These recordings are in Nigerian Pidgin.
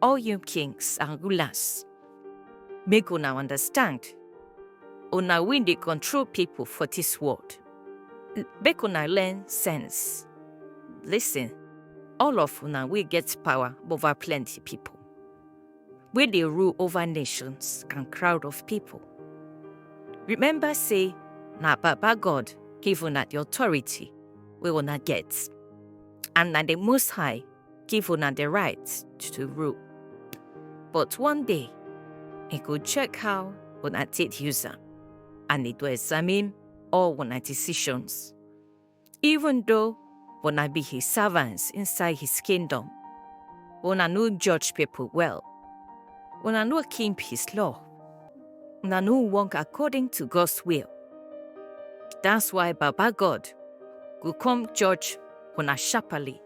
All you kings and rulers, make una understand. Una wey dey control people for this world, l- make una learn sense. Listen, all of una wey get power over plenty people, wey dey rule over nations and crowd of people. Remember say na Baba God give una the authority wey una get, and na the Most High give una the right to rule. But one day, he go check how una take use am and he go examine all una decisions. Even though una be his servants inside his kingdom, una no judge people well. Una no keep his law. Una no walk according to God's will. That's why Baba God go come judge una sharply.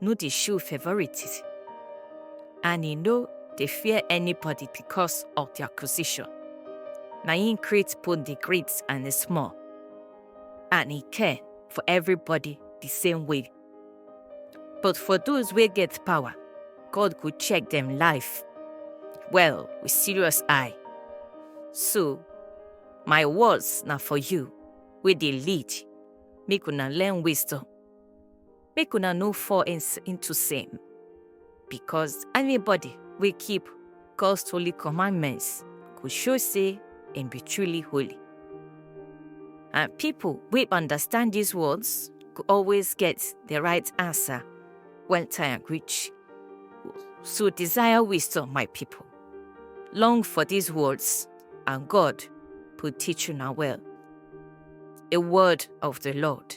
no dey show favoritism and e no dey fear anybody because of their position. Na im create both the great and the small, and e care for everybody the same way. But for those wey get power, God go check dem life well with serious eye. So, my words na for you wey dey lead, make una learn wisdom. make una no fall ins- into sin. Because anybody wey keep God's holy commandments go show say im be truly holy. And pipo wey understand dis words go always get di right answer wen time reach. So desire wisdom, my pipo. Long for dis words and God go teach una well. A word of di Lord.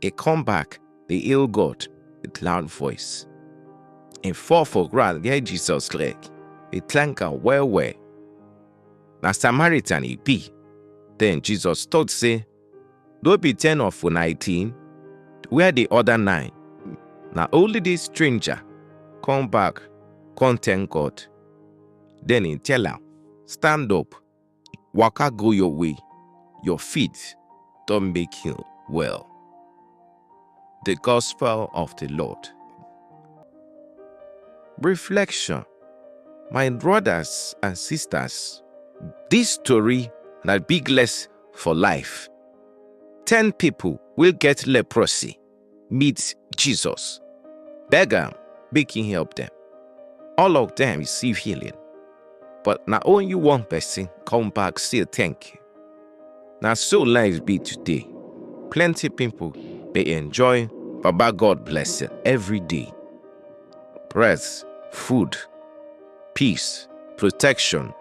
He come back, the ill God, with loud voice. He fall for ground near Jesus' leg. He thank am well well. Na Samaritan he be. Then Jesus talk say, No be ten of una I clean, where the other nine? Na only this stranger come back, come thank God. Then he tell am, Stand up, waka go your way, your feet don make him well. The Gospel of the Lord. Reflection My brothers and sisters, this story na big lesson for life. Ten people will get leprosy. meet Jesus, beg am make he help them. All of them receive healing, but na only one person come back say thank you. Na so life be today. Plenty people dey enjoy Baba God blessing every day. Breath, food, peace, protection,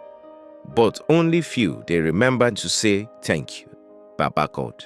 but only few dey remember to say thank you, Baba God.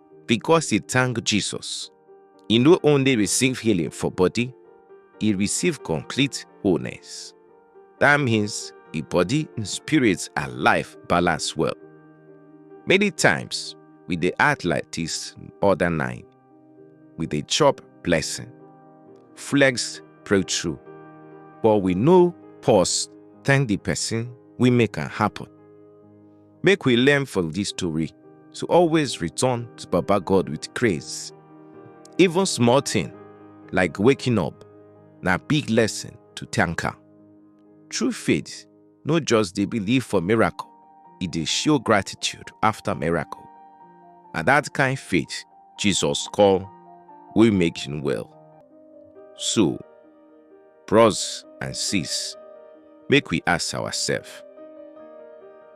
Because he thank Jesus, he no only receive healing for body, he receive complete wholeness. That means the body, spirit, and life balance well. Many times, we dey act like this other nine. We dey chop blessing, flex breakthrough, but we no pause thank the person we make am happen. Make we learn from this story to always return to Baba God with praise. Even small thing like waking up na big lesson to thank am. True faith no just dey believe for miracle, e dey show gratitude after miracle. Na that kind faith Jesus call wey make him well. So, Bros and sis, make we ask ourselves,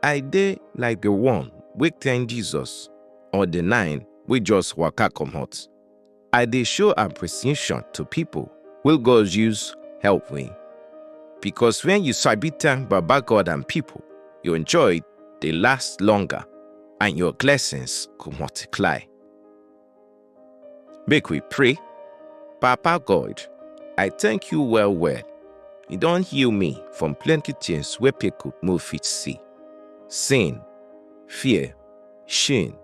I dey like the one wey thank Jesus or the nine wey just waka comot? I dey show appreciation to people wey God use help me? Because when you sabi thank Baba God and people, your joy dey last longer and your blessings go multiply. Make we pray. Papa God, I thank you well well. You don heal me from plenty things wey people no fit see. Sin, fear, shame,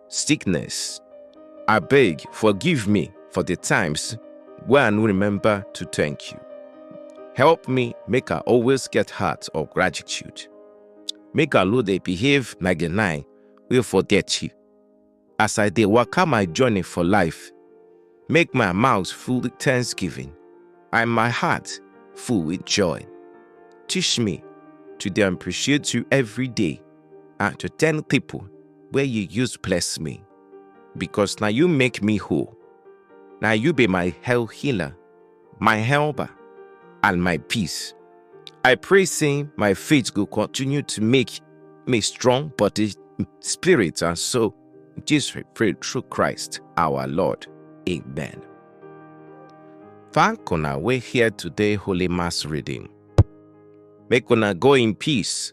sickness. Abeg forgive me for the times wey I no remember to thank you. Help me make I always get heart of gratitude. Make I no dey behave like the nine wey forget you. as I dey waka my journey for life. Make my mouth full with thanksgiving and my heart full with joy. Teach me to dey appreciate you every day and to thank people where you use bless me. Because now you make me whole. Now you be my hell healer my helper and my peace. I pray say my faith go continue to make me strong body, spirit and soul. Jesus we pray through Christ our Lord. Amen. Thank una we hear today Holy Mass reading. Make una go in peace